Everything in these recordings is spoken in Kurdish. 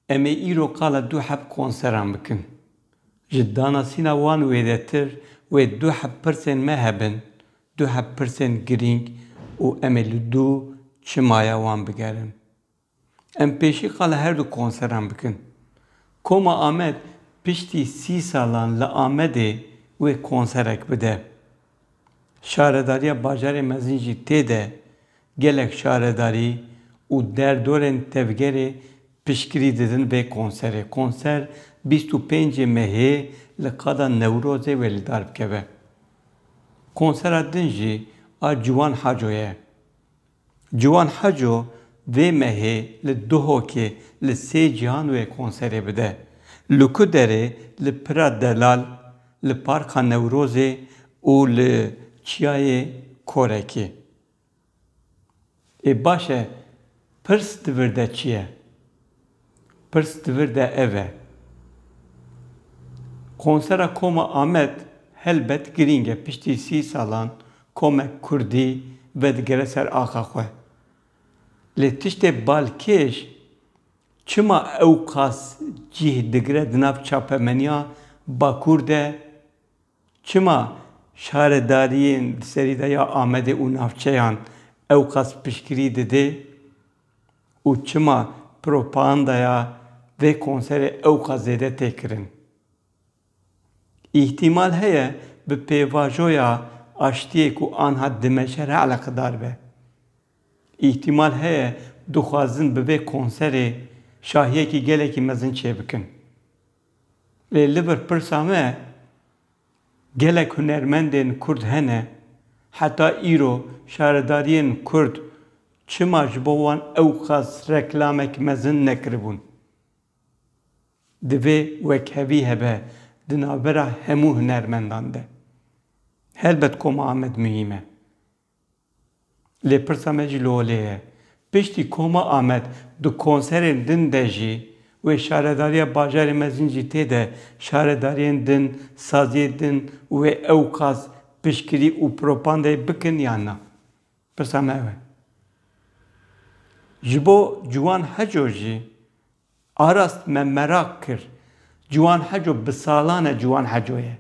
Em ê îro qala du heb konseran bikin. Ji danasîna wan wêdetir wê du heb pirsên me hebin, du heb pirsên girîng û em ê li du çimaya wan bigerin. Em pêşî qala her du konseran bikin. Koma Amed piştî sî salan li Amedê wê konserek bide. Şaredariya bajarê mezin jî tê de gelek şaredarî û derdorên tevgerê piştgirî didin vê konserê. Konser bîst û pêncê Mehê li qada Newrozê wê li dar bikeve. Konsera din jî a Ciwan Haco ye. Ciwan Heco vê mehê li Duhokê li sê cîhan wê konserê bide. Li ku derê li Pira Delal, li Parka Newrozê û li Çiyayê Korekê. Ê baş e pirs di vir de çi ye? Pirs di vir de ev e. Konsera Koma Amed helbet girîng e. Piştî sî salan komek kurdî vedigere ser axa xwe. Lê tiştê balkêş çima ewqas cîh digire di nav çapemeniya Bakur de, çima şaredariyên di serî de ya Amedê û navçeyan ewqas piştgirî didê û çima propagandaya vê konserê ewqas zêde tê kirin. Îhtîmal heye bi pêvajoya aştiyê ku anha dimeşe re eleqedar be. Îhtîmal heye dixwazin bi vê konserê şahiyekî gelekî mezin çêbikin. Lê li vir pirsa me, Gelek hunermendên Kurd hene, heta îro şaredariyên Kurd çima ji bo wan ewqas reklamek mezin nekiribûn? Divê wekhevî hebe di navbera hemû hunermendan de. Helbet koma Amed muhîm e. Lê pirsa me jî li holê ye. Piştî koma Amed di konserên din de jî wê şaredariya bajarê mezin jî tê de şaredariyên din, saziyê din wê ewqas piştgirî û propandeyê bikin yan na? Pirsa me ew e. Ji bo Ciwan Heco jî arast me meraq kir. Ciwan Heco bi salan e Ciwan Heco ye.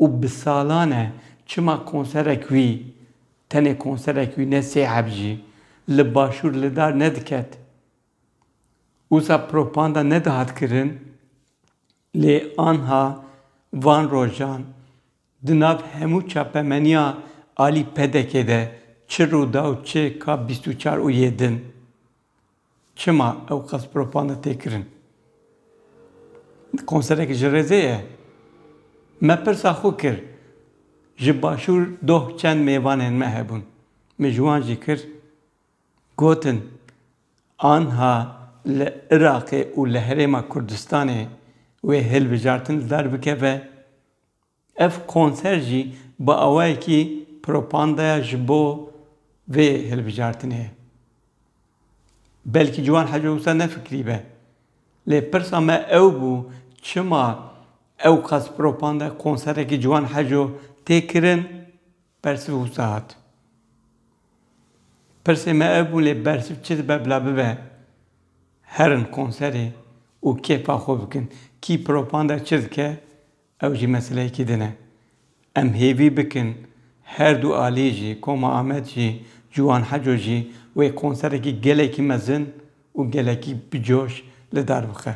Û bi salan e çima konserek wî, tenê konserek wî ne sê heb jî, li başûr li dar nediket. Wisa propanda nedihat kirin lê anha van rojan di nav hemû çapemeniya alî PDK'ê de çi rû da û çi ka bîst û çar û yê din. Çima ewqas propanda tê kirin? Konserek ji rêzê ye? Me pirsa xwe kir, ji başûr doh çend mêvanên me hebûn, min ji wan jî kir, gotin, anha li Iraqê û li herêma Kurdistanê wê hilbijartin li dar bikeve, Ev konser jî bi awayekî propandaya ji bo vê hilbijartinê ye. Belkî ciwan heco wisa nefikrîbe. Lê pirsa me ew bû çima ewqas propandaya konserekî ciwan heco tê kirin? Bersiv wisa hat. Pirsê me ev bû lê bersiv çi dibe bila bibe herin konserê û kêfa xwe bikin. Kî propandaya çi dike Ew jî meseleyekî din e. Em hêvî bikin her du alî jî, Koma Amed jî, Ciwan Heco jî wê konserekî gelekî mezin û gelekî bi coş li dar bixe.